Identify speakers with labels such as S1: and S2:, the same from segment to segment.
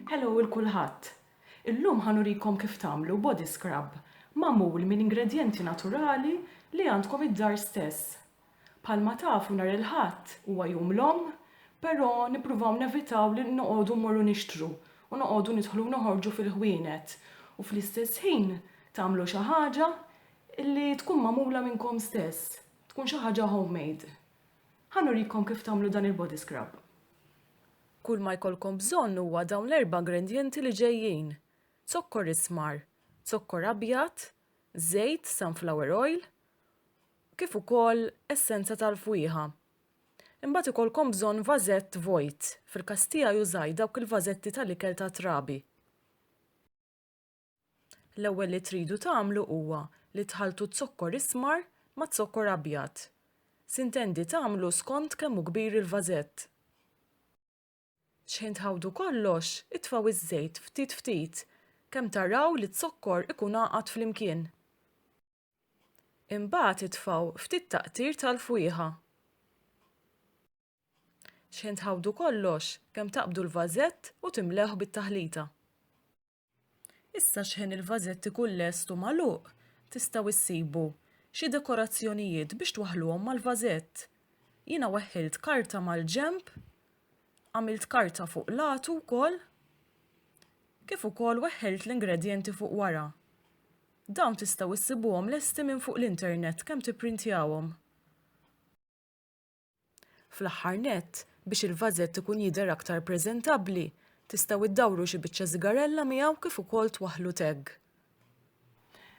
S1: Hello 'l kulħadd! Illum ħa nurikom kif tagħmlu body scrub magħmul minn ingredjenti naturali li għandkom id-dar stess. Bħalma tafu nhar il-Ħadd huwa jum l-Omm, però nippruvaw nevitaw li noqogħdu mmorru nixtru u noqogħdu nidħlu u noħorġu fil-ħwienet u fl-istess ħin tagħmlu xi ħaġa Li tkun magħmula minnkom stess, tkun xi ħaġa homemade. Ħa nurikom kif tagħmlu dan il-body scrub. Kull ma jkollkom bżonn huwa dawn l-erba' ingrendjenti li ġejjin, zokkor ismar, zokkor abjad, żejt sunflower oil, kif ukoll essenza tal-fwieħa. Imbagħad ikollkom bżonn vażett vojt, fil-każ tiegħi użajt dawk il-vażetti tal-ikel tat-trabi. L-ewwel li tridu tagħmlu huwa li tħalltu z-zokkor ismar maz-zokkor abjad. Sintendi tagħmlu skond kemm hu kbir il-vażett. X'ħin tħawdu kollox, itfgħu iż-żejt ftit ftit kemm taraw li z-zokkor ikun għaqad flimkien. Imbagħad itfgħu ftit taqtir tal-fwieħa. X'ħin tħawdu kollox kemm taqbdu l-vażett u timlewh bit-taħlita. Issa x'ħin il-vażett ikun lest u magħluq, tistgħu issibu xi dekorazzjonijiet biex twaħħluhom mal-vażett. Jiena weħħilt karta mal-ġenb, għamilt karta fuq latu wkoll, kif ukoll weħħilt l-ingredjenti fuq wara. Dawn tistgħu issibuhom lesti minn fuq l-internet kemm tipprintjawhom. Fl-aħħar nett, biex il-vażett ikun jidher aktar preżentabbli, tistgħu iddawru xi biċċa sigarella miegħu kif ukoll twaħħlu tag.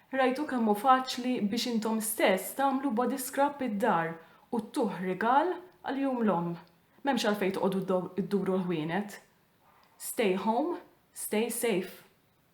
S1: Rajtu kemm hu faċli biex intom stess tagħmlu body scrub id-dar u ttuh rigal għal Jum l-Omm. M'hemmx għalfejn toqogħdu dduru l-ħwienet. Stay home, stay safe.